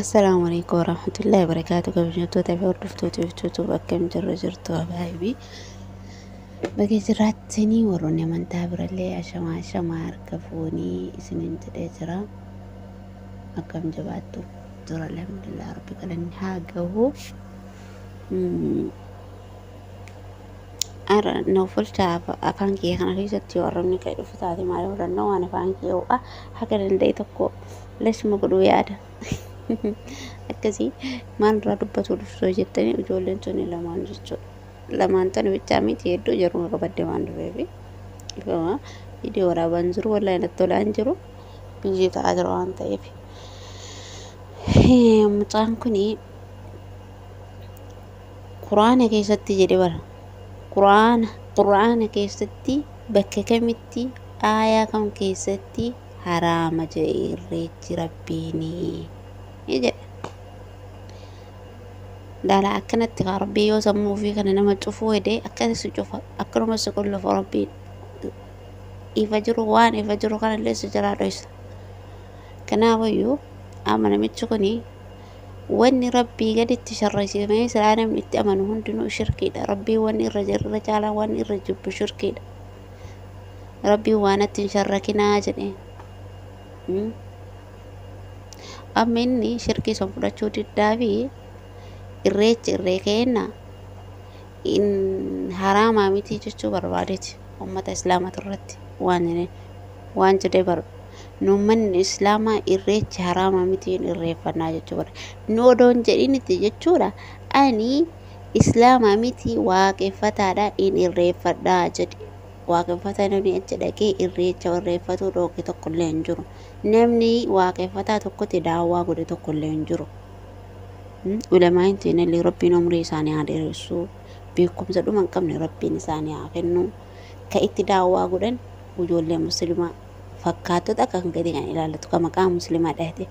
Assalaamu alaikum warahmatullahi wabarakaatu kabajamtoota fi hordoftoota YouTube akkam jirru jirtu abaayibii baga jiraattanii warroonni amantaa birallee ashamaa ashamaa harka fuunii isiniin jedhee jira akkam jabaattu jira alhamdulillah rabbi galanni haa gahu Ara nuuf bulchaa afaan kiyya kana keessatti yoo arrabni ka'e dhufu taate maal godhanna waan afaan kiyya ho'a haga danda'e tokko lashuma godhuu yaada. Akkasii maal irraa dubbatuu dhuftoo jettanii ijoolleen tuni lamaan jechuudha. Lamaan tana bichaa miti hedduu jaruma qabadde waan dhufeefi. Ifama viidiyoo waraabaan jiru wallahi natti tolaan jiru biyyee ta'aa jira waan ta'eef. Mucaan kuni Qur'aana keessatti jedhe bar. Qur'aana, Qur'aana keessatti bakka kamitti aayaa kam keessatti haraama jedhe irreechi rabbiini jedha daala akkanatti kaa rabbii yoo sammuu ofii kana nama cufuu hede akkana si cufa akkanuma si qullufa rabbiin ifa jiru waan ifa jiru kanallee si jalaa dhoysa kanaafayyuu amma namichi kuni Wanni Rabbii gaditti sharraysiifamee silaa namni itti amanu hundinuu shirkiidha. Rabbiin wanni irra jir- irra caalaan wanni irra jibbu shirkiidha. Rabbiin waa natti hin sharrakinaa jedhee. Mm. Amma inni shirkii san fudhachuu diddaa fi irreechi irree keenna in haraamaa mitii jechuu barbaadeti ummata islaamatu irratti waan jedhee waan jedhee bar nu ummanni islaamaa irreecha haraama miti hin irreeffannaa jechuu godha nu odoon jedhinitti jechuudha ani islaama miti waaqeffataadha hin irreeffadhaa jedhe waaqeffataa namni achi dhaqee irreecha irreeffatuu dhooke tokko illee hin jiru namni waaqeffataa tokkotti daawwaa godhe tokko illee hin jiru ulamaa'in teenallee rabbiin umrii isaanii haa dheeressu beekumsa dhuma hin qabne rabbiin isaanii haa kennu ka itti daawwaa godhan ijoollee muslimaa fakkaattota kan gadi kan ilaallatu kan maqaa muslimaa dhahate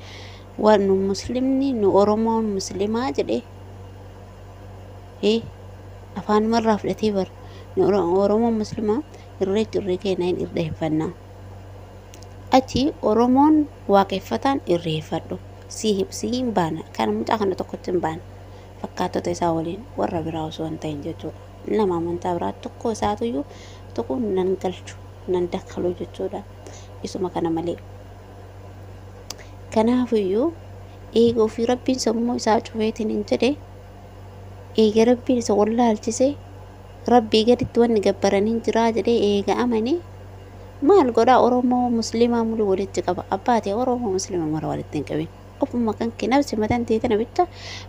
waan nu muslimni nu oromoon muslimaa jedhe afaanumarraa fudhatee bar nu oromoon muslimaa irreechi irree keenya hin irreeffannaa achi oromoon waaqeffataan irreeffadhu si hin baana kana mucaa kana tokkotti hin baana fakkaattota isaa waliin warra biraa osoo hin ta'in jechuudha. nama amantaa biraa tokko isaatuyyuu tokko nan galchu nan dakkalu jechuudha isuma kana malee kanaafuyyuu eega ofii rabbiin sammuu isaa cufeetiin hin jedhe eega rabbiin isa wallaalchise rabbii gaditti wanni gabbaran hin jiraa jedhee eega amane maal godhaa oromoo muslimaa mulu walitti qaba abbaatee oromoo muslima mara walitti hin qabin Ofuma kanke nafsi matan tee tana bicha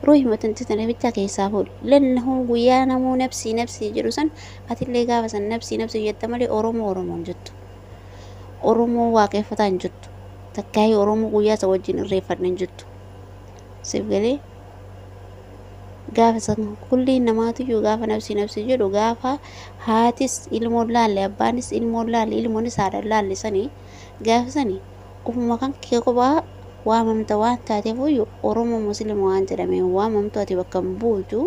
ruuhi matan tee tana bicha keessaa fuudhi. Lannahuu guyyaa namuu nafsii nafsii jedhu san atillee gaafa san nafsii nafsii jetta malee Oromoo Oromoo hin jettu. Oromoo waaqeffataa hin jettu. Takkaayii Oromoo guyyaa isa wajjin irreeffadha hin jettu. Siif galee gaafa san kulli namaatiyyuu gaafa nafsii nafsii jedhu gaafa haatis ilmoon laalle abbaanis ilmoon laalle ilmoonis haadhaan laalle sanii gaafa sanii Ofuma kankee kophaa waamamta waan taateefuyyu Oromoo Muslima waan jedhamee hin waamamtu ati bakka hin buutu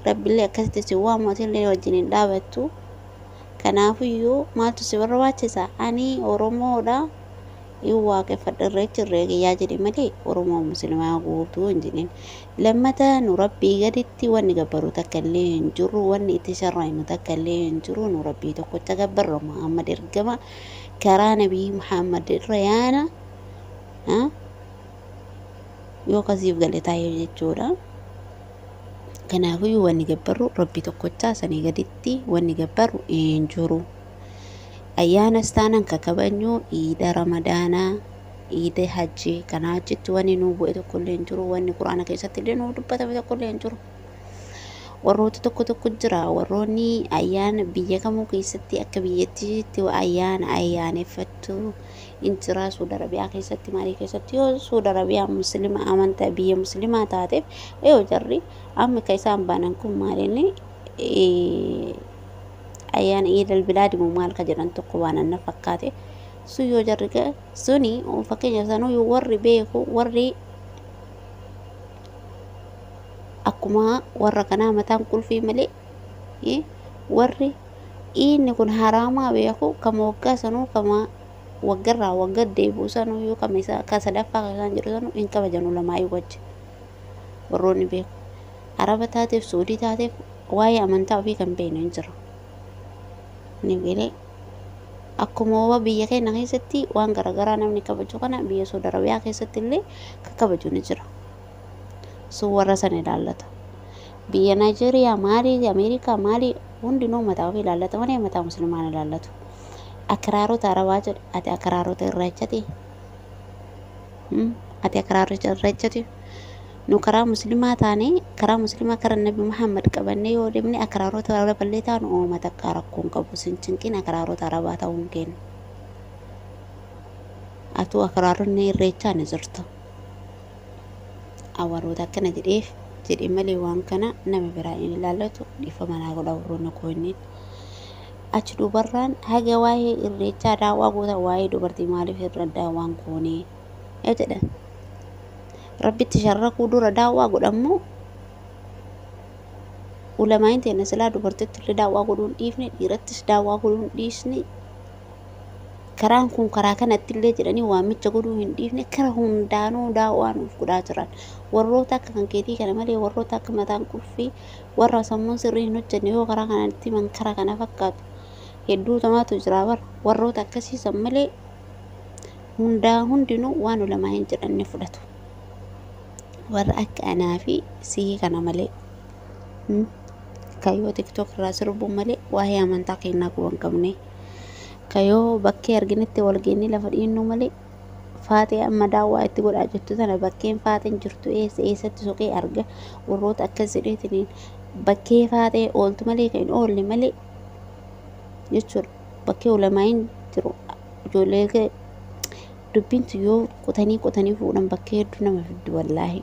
Rabbillee akkasitti sin waamu atillee wajjin hin dhaabattu kanaafuyyu maaltu si barbaachisa ani Oromoodha hin waaqeffadha irreechi irree kiyyaa jedhi malee Oromoo Muslimaa guutuu hin jedhin lammata nu Rabbii gaditti wanni gabbaru takka illee hin jirru wanni itti sharraynu takka illee hin jiru nu Rabbii tokkocha gabbarra Muhammad ergama karaa nabii muhammad irra yaana yoo kasiif gale taa'ee jechuudha kanaafiyyuu wanni gabbarru rabbi tokkochaa sanii gaditti wanni gabbarru hin jiru ayyaanas taanan ka kabajnu iida ramadaanaa iida hajjii kana achitti wanni nuu bu'e tokkollee hin jiru wanni quraana keessatti illee nuu dubbatame tokkollee hin jiru Warroota tokko tokko jira warroonni ayyaana biyya kamuu keessatti akka biyyattiitti ayyaana ayyaaneffattu in jira Suud Arabiyaa keessatti maalii keessatti yoo Suud Arabiyaa muslima amantaa biyya muslimaa taateef yoo jarri amma ka isaan baanan kun maalinni ayyaana iidal bilaadimu maal ka jedhan tokko baanan na fakkaate sun yoo jarri suni fakkeenya sanuu warri beeku warri akkuma warra kanaa mataan qulfii malee eh, warri inni kun haraamaa beeku kama waggaa sanuu kama waggarraa wagga deebi'u sanuu yoo kama isa ka sadaffaa ka isaan jedhu sanuu hin kabajan ulamaa'ii wajji warroonni beeku araba taateef suudii taateef waa'ee amantaa ofii kan beeknu hin jiru ni galee Akkuma wa biyya keenya keessatti waan garaagaraa namni kabaju kana biyya Saudi Arabiyaa keessatti illee ka kabaju ni jira. Sun warra san ilaallata. Biyya Naayijeeriyaa maalii Ameerikaa maalii hundinuu mataa ofii ilaallata malee mataa muslimaan ilaallatu. Akiraarota Arabaa jedhe ati akiraarota irreechati. Ati akiraarota irreechati. nu karaa muslimaa taane karaa muslimaa karaa nabi muhammad qabannee yoo deemne akraaroota araballee taanu ooma takkaa rakkoon qabu sin cinqin akraaroota arabaa ta'uun keenya atuu akraaronni irreechaa ni jirta awwaroota akkana jedheef jedhe malee waan kana nama biraa hin ilaallatu dhiifama naa godha warroonni koo inni achi dubarraan haga waa'ee irreechaa daawwaa goota waa'ee dubartii maaliif irra daawwaan koonee yoo jedhan rabbitti sharrakuu dura daawwaa godhammoo ulamaa'iin teenna silaa dubartitti illee daawwaa godhuun dhiifne dhiirattis daawwaa godhuun dhiisne karaan kun karaa kanatti illee jedhanii waamicha godhuu hin dhiifne kara hundaanuu daawwaa nuuf godhaa jiran warroota akka kan keetii kana malee warroota akka mataan qulfii warra sammuun sirrii hin hojjenne yoo karaa kanatti man kara kana fakkaatu hedduu tamaatu jira bar warroota akkasiisan malee hundaa hundinuu waan ulamaa'in jedhan ni fudhatu warra akka anaa fi sii kana malee hmm? kayoo tiktok irraa sirbuun malee waa'ee amantaa keenyaa quban qabne kayoo bakkee arginetti wal geennee lafa dhiinnuu malee faatee amma daawwaa itti godhaa jirtu tana bakkeen faateen jirtu eessa eessatti soqee arga warroota akkas jedheetiniin bakkee faatee ooltu malee kan hin oolle malee jechuudha. bakkee ulamaa'iin jiru ijoollee kee dubbiin tun yoo qotanii qotanii fuudhan bakkee hedduu nama fiddi wallaahi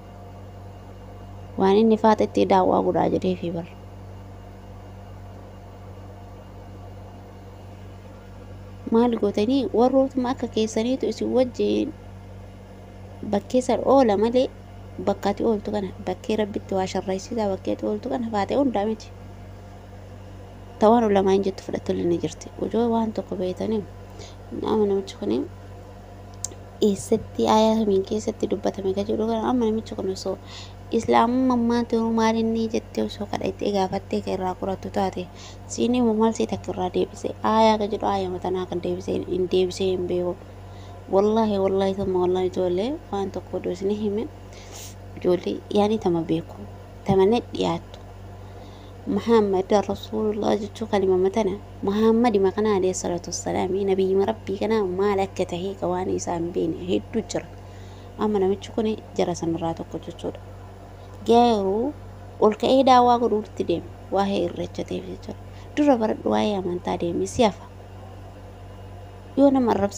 waan inni faaxa itti daawwaa godhaa jedhee fi bar maal gootanii warrootuma akka keessaniitu isin wajjin bakkee san oola malee bakka ati ooltu kana bakkee rabbitti waa sharraysiisaa bakkee ati ooltu kana faatee hundaa miti ta waan ulamaa'in jettu fudhattullee ni jirti ujoo waan tokko beeytanii nama namichi kun eessatti aayaa kamiin keessatti dubbatame ka jedhu kana amma namichi kun osoo islaamummaa maati hoo maal inni jettee osoo kadha itti gaafattee ka irraa qorattu taate siinii moo maal sii takka irraa deebise aayaa ka jedhu aayama tanaa kan deebise hin deebisee hin beeku wallaahi wallaahi tamma wallaahi ijoollee waan tokko odoo isin hime ijoollee yaanii tama beeku tama net dhiyaattu Muhammad Rasuulullah jechuu kalimama tana Muhammadima kana alayhi salaatu wassalaami nabiyyima rabbii kana maal akka tahee ka waan isaa hin beekne hedduu jira amma namichi kun jara sanirraa tokko jechuudha garuu ol ka'ee daawaa godhuutti deema waa'ee irreecha ta'eef jechuudha dura baradhu waa'ee amantaa deemi si hafa yoo nama arrabsa